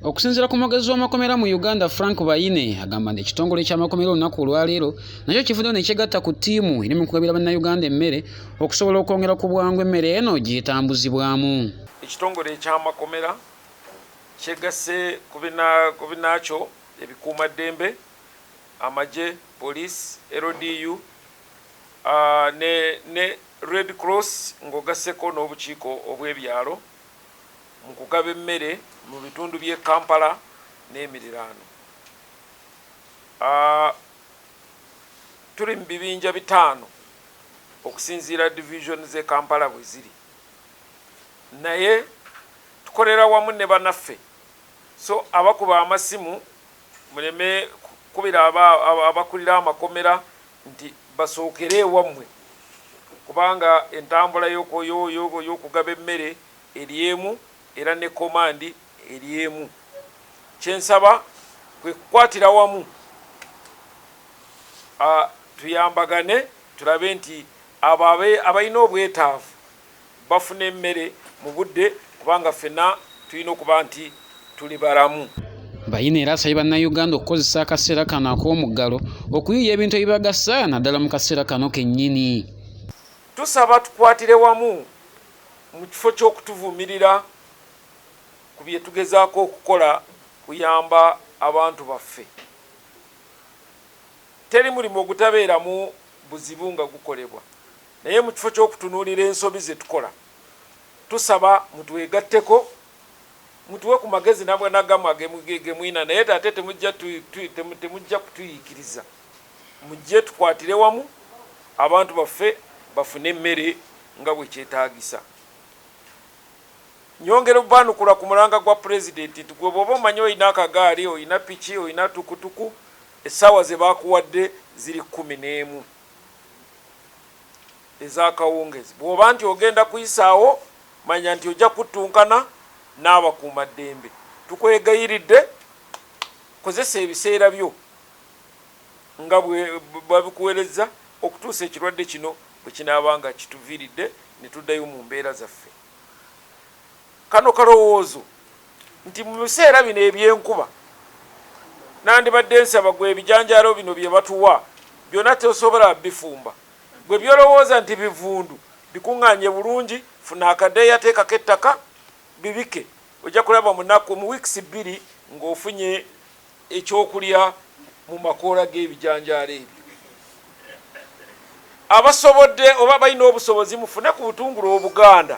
Okusinzira ku mwogezi w'amakomera mu Uganda Frank Bayine agamba nti ekitongole ky'amakomera olunaku olwaleero nakyo kivuddeyo ne kyegatta ku ttiimu eri mu kugabira bannayuganda emmere okusobola okwongera ku bwangu emmere eno gy'etambuzibwamu. Ekitongole eky'amakomera kyegasse ku binaakyo ebikuumaddembe amagye poliisi LDU ne Red Cross ng'ogasseko n'obukiiko obw'ebyalo. mu kugaba emmere mu bitundu by'e Kampala n'emiriraano. Tuli mu bibinja bitaano okusinziira divizoni z'e Kampala bwe ziri naye tukolera wamu ne banaffe so abakuba amasimu muleme kukubira abakulira amakomera nti basookere ewammwe kubanga entambula y'okugaba emmere eri emu era ne komandi eri emu. Kye nsaba kwe kukwatira wamu tuyambagane tulabe nti abo abalina obwetaavu bafune emmere mu budde kubanga ffena tulina okuba nti tuli balamu. Bayine era asabye Bannayuganda okukozesa akaseera kano ak'omuggalo okuyiiya ebintu ebibagasa naddala mu kaseera kano kennyini. Tusaba tukwatire wamu mu kifo ky'okutuvumirira ku bye tugezaako okukola kuyamba abantu baffe. Teri mulimu ogutabeeramu buzibu nga gukolebwa. Naye mu kifo ky'okutunuulira ensobi ze tukola, tusaba mutwegatteko, mutuwe ku magezi nabwa nagamwa ge mulina naye ate temujja kutuyiikiriza. Mujje tukwatire wamu abantu baffe bafune emmere nga bwe kyetaagisa. Nnyongera obbaanukula ku mulanga gwa Pulezidenti nti gwe bw'oba omanyi olina akagaali, olina piki, olina tukutuku, essaawa ze bakuwadde ziri kkumi n'emu. ez'akawungeezi. Bw'oba nti ogenda kuyisaawo, manya nti ojja kuttunkana n'abakuumaddembe. Tukwegayiridde kozesa ebiseera byo nga bwe babikuwerezza okutuusa ekirwadde kino bwe kinaaba nga kituviiridde ne tuddayo mu mbeera zaffe. Kano kalowoozo nti mu biseera bino eby'enkuba nandibadde nsaba gwe ebijanjaalo bino bye batuwa byona tosobola bifumba gwe byolowooza nti bivundu bikunganye bulungi funa akadeeya teekako ettaka bibike ojja kulaba munaku mu weeks bbiri nga ofunye ekyokulya mu makoola g'ebijanjaalo ebyo. Abasobodde oba abalina obusobozi mufune ku butungulu obuganda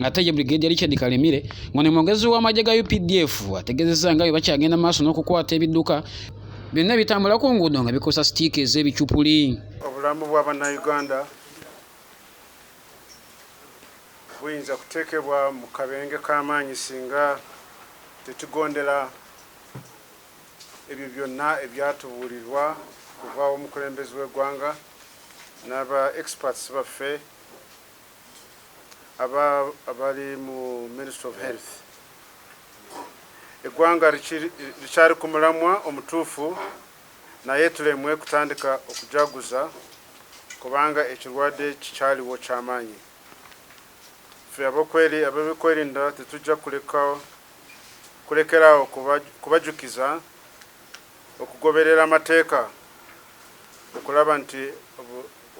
ate ye Brigadier Richard Kalemire ngono mwogezi w'amagye ga UPDF ategezezza nga bwe bakyagenda maaso n'okukwata ebidduka byonna ebitambula ku nguudo nga bikosa sitiika ez'ebicupuli obulamu bwa bannayuganda buyinza kuteekebwa mu kabenje k'amaanyi singa tetugondera ebyo byonna ebyatubuulirwa kuva omukulembezi w'eggwanga n'aba experts baffe aba abali mu ministry of health eggwanga likyali ku mulamwa omutuufu naye tulemwe kutandika okujaguza kubanga ekirwadde kikyaliwo kyamaanyi fe abokweri abebikwerinda tetujja kulekawo kulekeraawo kubajukiza okugoberera amateeka okulaba nti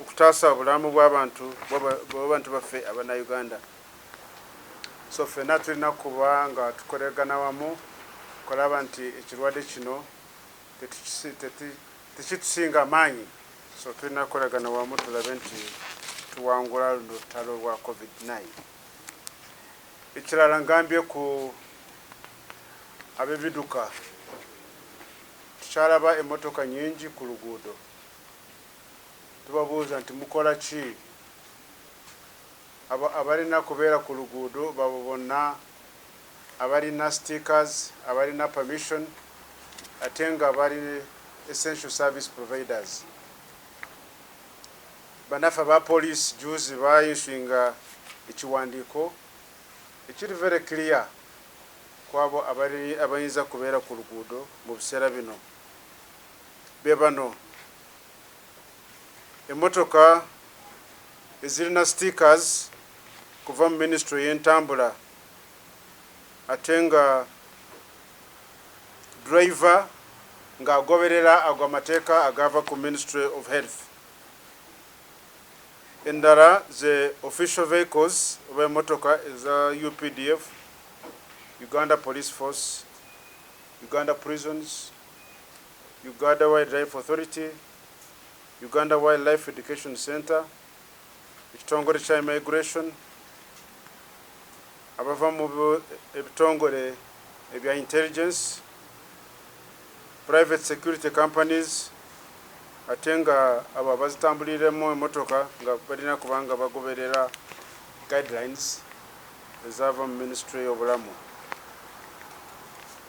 okutaasa obulamu bwabantu bwabantu baffe abanauganda so fena tulina kuba nga tukolergana wamu okulaba nti ekirwadde kino tekitusinga amaanyi so tulina kukolergana wamu tulabe nti tuwangula luno lutalo lwa covid 9 ekirala ngambye ku abebiduka tukyalaba emotoka nyingi ku luguudo Tubabuuza nti mukola ki? Abo abalina kubeera ku luguudo babo bonna abalina stickers, abalina permission ate nga bali essential service providers. Bannaffe aba poliisi jjuuzi ba issuinga ekiwandiiko ekiri very clear ku abo abayinza kubeera ku luguudo mu biseera bino. Be bano. Emmotoka ezirina stickers kuva mu minisitule ey'entambula ate nga ddereeva ng'agoberera ago amateeka agaava ku Ministry of Health. Endala ze official vehicles oba emmotoka eza updf, Uganda Police Force, Uganda Prisons, Ugada Wildlife Authority, Uganda Wildlife Education Centre, ekitongole kya Immigration, abava mu ebitongole ebya Intelligence, Private Security Companies, ate nga abo abazitambuliremu emotoka nga balina kubanga bagoberera guidelines ezaava mu ministry y'obulamu.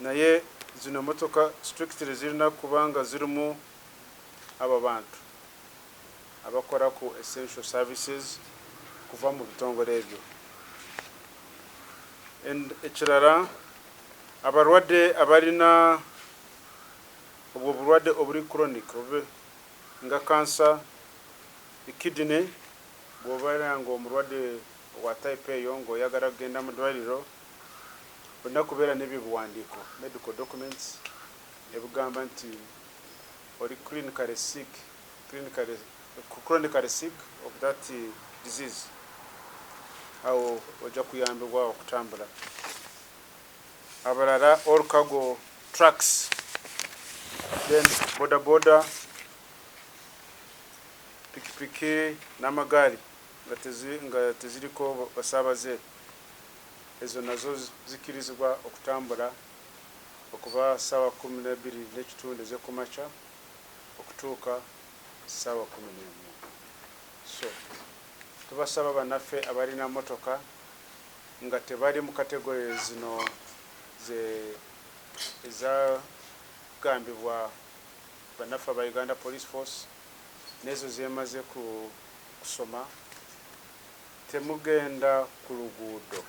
Naye zino motoka strictly zirina kuba nga zirimu abo abantu abakola ku essential services kuva mu bitongole ebyo and ekirala abalwadde abalina obwo obulwadde obuli chronic oba nga cancer, kidney bwobeera nga omulwadde wa type eyo nga oyagala kugenda mu dwaliro olina kubeera n'ebyo ebiwandiiko, medical documents, ebigamba nti oli clinically sick, clinically, chronically sick of that disease. Awo ojja kuyambibwa okutambula. Abalala all cargo trucks, then boda boda, pikipiki n'amagaali nga teziriko basaabaze. ezo nazo zikkirizibwa okutambula okuva ssaawa kkumi na bbiri n'ekitundu ez'ekumakya okutuuka ssaawa kkumi n'emu so tubasaba bannaffe abalina mmotoka nga tebali mu kategole zino ze ezagambibwa bannaffe aba Uganda Police Force n'ezo zeemaze ku kusoma Temugenda ku luguudo,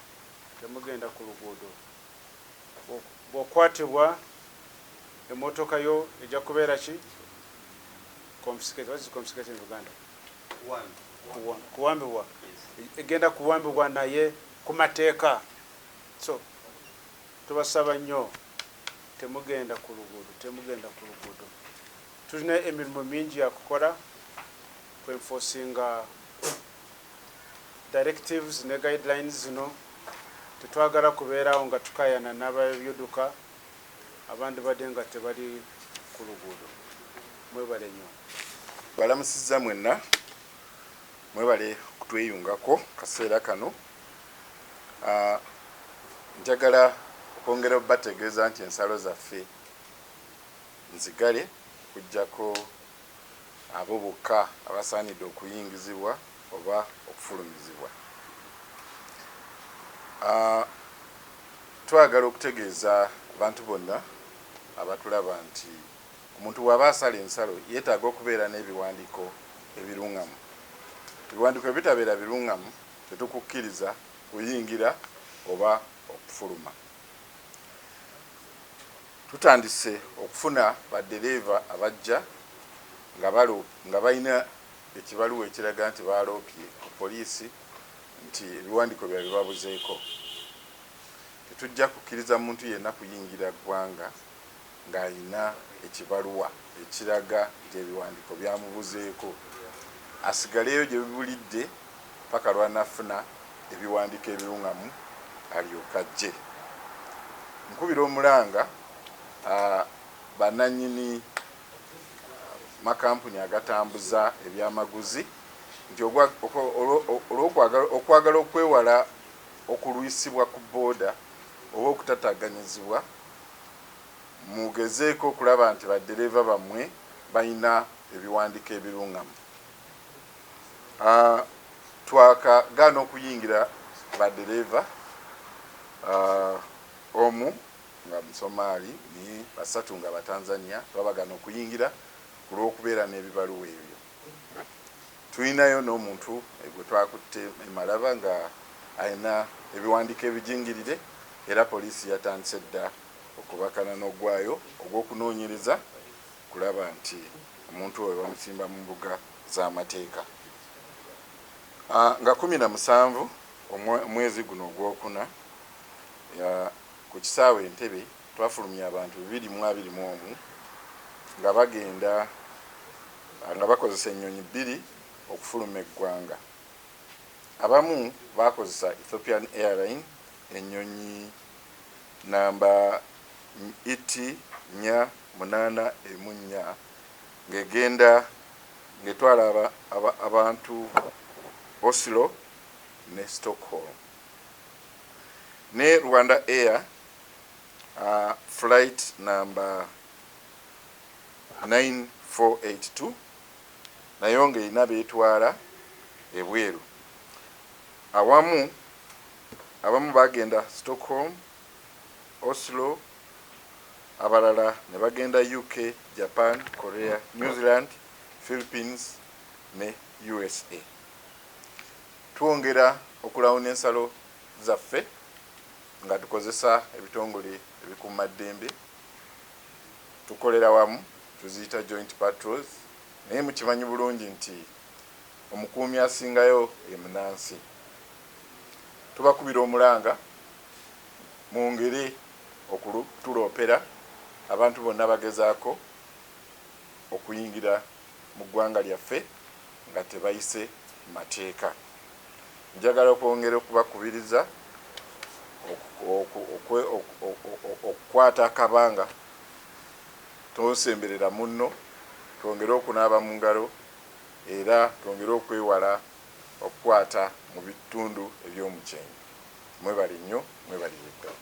temugenda ku luguudo. Bw'okwatibwa, emmotoka yo ejja kubeera ki? Confiscated. What is confiscated in Luganda? Kuwambibwa. Egenda kuwambibwa naye ku mateeka. So, tubasaba nnyo temugenda ku luguudo temugenda ku luguudo tulina emirimu mingi yakukola kwenfosinga directives ne guidelines zino tetwagala kubeera awo nga tukayana nababyduka abandibadde nga tebali kuluguudo. Mwebale nyo. Mbalamusizza mwenna, mwebale okutweyungako kaseera kano. Njagala okwongera obategeeza nti ensalo zaffe nzigale okujjako. abo bokka abasaanidde okuyingizibwa oba okufulumizibwa. A. Twagala okutegeeza abantu bonna abatulaba nti omuntu bw'aba asala ensalo yeetaaga okubeera n'ebiwandiiko ebirungamu. Ebiwandiiko bwe bitabeera birungamu, tetukukkiriza kuyingira oba okufuluma. Tutandise okufuna ba dereeva abajja nga balina ekibaluwa ekiraga nti baaloopye ku poliisi nti ebiwandiiko byabwe bibabuzeeko. Tetujja kukkiriza muntu yenna kuyingira ggwanga ng'alina ekibaluwa ekiraga nti ebiwandiiko byamubuzeeko asigaleyo gye bibulidde. ppaka lw'anaafuna ebiwandiiko ebiruŋŋamu alyoke ajje. Nkubira omulanga bannannyini makampuni agatambuza ebyamaguzi nti olw'okwagala okwagala okwewala okulwisibwa ku boda oba okutataganyizibwa, mugezeeko okulaba nti baddereeva bammwe balina ebiwandiiko ebiruŋŋamu. Twakagaana okuyingira ba dereeva omu nga Musomaali ne basatu nga Batanzania twabagaana okuyingira ku lw'okubeera n'ebibaluwa ebyo. Tulinayo n'omuntu gwe twakutte e Malaba ng'alina ebiwandiiko ebijingirire era poliisi yatandise dda okubakana n'oggwaayo ogw'okunoonyereza. kulaba nti omuntu oyo bamusimba mu mbuga z'amateeka. Nga kumi na musanvu omwezi guno ogw'okuna, ku kisaawe Entebbe twafulumya abantu bibiri mu abiri mu omu nga bagenda nga bakozesa ennyonyi bbiri okufuluma eggwanga. Abamu baakozesa Ethiopian Airline ennyonyi Nnamba ny iti nnya munaana emu nnya ng'egenda ng'etwala aba abantu Oslo ne Stockholm ne Rwanda Air flight nnamba nine four eight two nayo ng'erina b'etwala ebweru awamu Abamu baagenda Stockholm, Oslo, abalala ne bagenda UK, Japan, Korea, New Zealand, Philippines ne usa. Twongera okulawuna ensalo zaffe nga tukozesa ebitongole ebikuuma ddembe. Tukolera wamu, tuziyita joint patrols naye mukimanyi bulungi nti omukuumi asingayo ye munansi. tubakubira omulanga mungeri okutuloopera abantu bonna abagezaako okuyingira mu ggwanga lyaffe nga tebayise mateeka. Njagala okwongera okubakubiriza okukwata akabanga tonsemberera munno, twongere okunaaba mu ngalo era twongere okwewala okukwata mu bitundu eby'omukyenyi. Mwebale nnyo, mwebalire ddala.